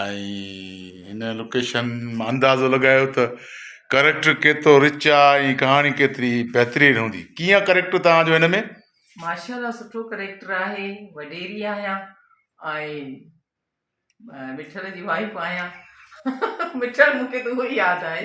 ۽ هن لوڪيشن مان اندازو لڳايو ته ڪريڪٽر ڪيترو رچ آ ۽ ڪهاڻي ڪيتري بهترين هوندي ڪيئن آ ڪريڪٽر توهان جو هن ۾؟ ماشاءالله سٺو ڪريڪٽر آهي وڏيري آهيان ۽ مٺل جي وائيف آهيان مٺل مون کي ته اهو ئي ياد آهي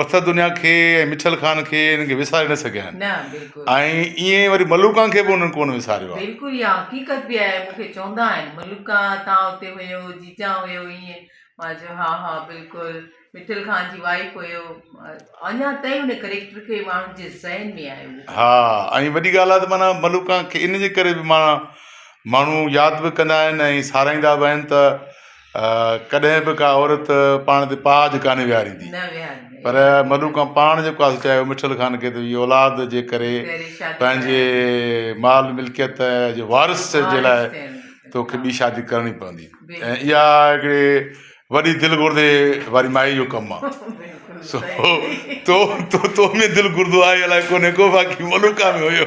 پٿر دنيا کي ۽ مٺل خان کي انهن کي وساري نه سگهيا آهن نه بلڪل ۽ ائين ئي وري ملوڪان کي به انهن ڪونه وساريو آهي بلڪل اها حقيقت به آهي مون کي چوندا آهن ملوڪا تان اتي هيو جيجا هيو ائين مان چيو ها ها بلڪل مٺل خان جي وائيف هيو اڃا تائين ان ڪريڪٽر کي ماڻهن جي ذهن ۾ آهي اهو ها ۽ وڏي ڳالهه آهي ته معنيٰ ملوڪان کي ان جي ڪري به معنيٰ ماڻهو ياد به ڪندا آهن ۽ ساراهيندا به آهن ته ڪڏهن به ڪا عورت پاڻ تي پاج ڪانه ويهاريندي پر ملوڪان پاڻ جيڪو آهي سو چاهيو مٺل خان کي ته هي اولاد جي ڪري پنهنجي مال ملڪيت جي وارث جي لاء توکي ٻي شادي ڪرڻي پوندي ۽ اها هڪڙي وڏي دل گردي واري مائي جو ڪم آهي سو تو تو تو ۾ دل گردو آهي الاء ڪونهي ڪو باقي ملوڪا ۾ هيو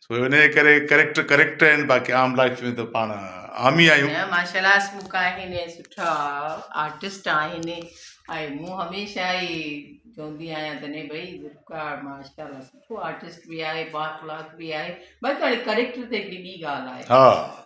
سو ان جي ڪري ڪريڪٽر ڪريڪٽر آهن باقي عام لائف ۾ ته پاڻ عام ئي آهيون نه ماشاء الله اسموڪ آهن ۽ سٺا آرٽسٽ آهن ۽ مون هميشه ئي چوندي آهيان ته نه ڀئي ذوالفقار ماشاء الله سٺو آرٽسٽ بي آهي با اخلاق بي آهي باقي هاڻي ڪريڪٽر ته هڪڙي ٻي ڳالهه آهي ها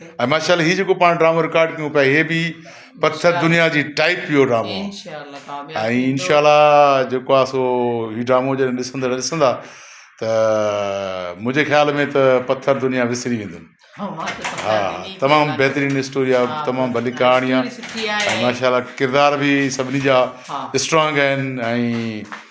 ۽ ماشاءالله هي جيڪو پاڻ ڊرامو رڪارڊ ڪيون پيا هي به پٿر دنيا جي ٽائپ پيو ڊرامو ۽ انشاء الله جيڪو آ سو هي ڊرامو جڏهن ڏسندڙ ڏسندا ته منهنجي خيال ۾ ته پٿر دنيا وسري ويندن ها تمام بهترين اسٽوري آهي تمام ڀلي ڪهاڻي آهي ۽ ماشاء الله ڪردار به سڀني جا اسٽرانگ آهن ۽